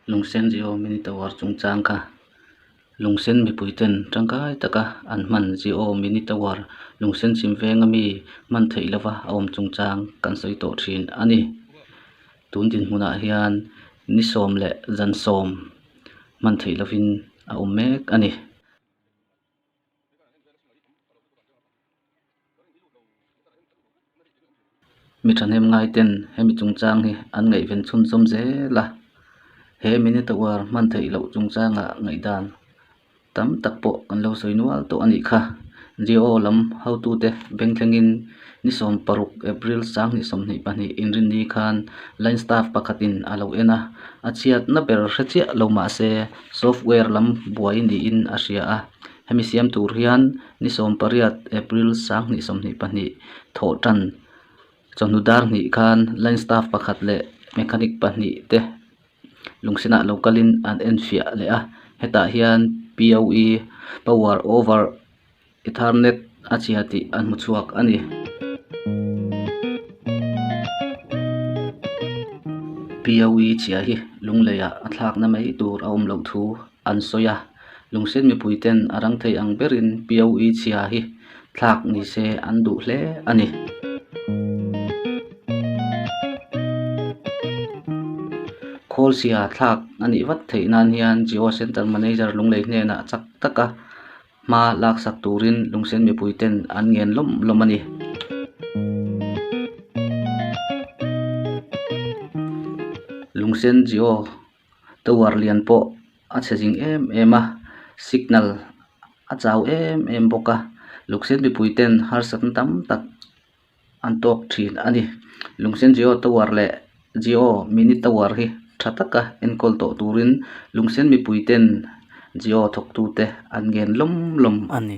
Lungsen zih awm in tovar chung chang kha lungsen mipui ten tangkai tak a an hman zih awm in tovar lungsen chhim veng ami hman theih lova a awm chung chang kan sawi tawh thin a ni tun dinhmun ah hian ni sawm leh zan sawm hman theih lovin a awm mek a ni. Mi thahnem ngai ten hemi chungchang hi an ngaihven chhun zawm zel a, he minute hour hman theih loh chungchangah ngaihdan tam tak pawh an lo sawi nual tawh a nih kha, J-O lam hotute beng thlengin-- Ni sawm paruk, April, Sang ni sawm hnih pahnih inrinni khan line staff pakhatin a lo en a, a chhiatna ber hre chiah lo mah se software lam buai niin a hria a. Hemi siam tur hian ni sawm pariat, April, Sang ni sawm hnih pahnih thawh tan chawhnu dar hnih khan line staff pakhat leh mechanic pahnih te lungsenah lo kalin an enfiah leh a. Hetah hian POE, Power Over, Ethernet a chhia tih a hmu chhuak a ni. Piaui chhia hi lungleiah a thlakna mai tur a awm loh thu an sawi a. Lungsen mipuiten a rang thei ang berin Piaui chhia hi thlak ni se an duh hle a ni. Khawl-sia thlak a nih vat theih nan hian Jio Centre Manager Lunglei hnenah chak taka hma laksak turin lungsen mipui ten an ngen lawm lawm a ni lungsen Jio tower lian pawh a chhe zing em em a signal a chau em em bawk a lungsen mipui ten harsatna tam tak-- an tawk thin a ni. Lungsen Jio tower leh Jio mini tower hi tha taka enkawl tawh turin lungsen mipui ten Jio thawktu te an ngen lawm lawm a ni.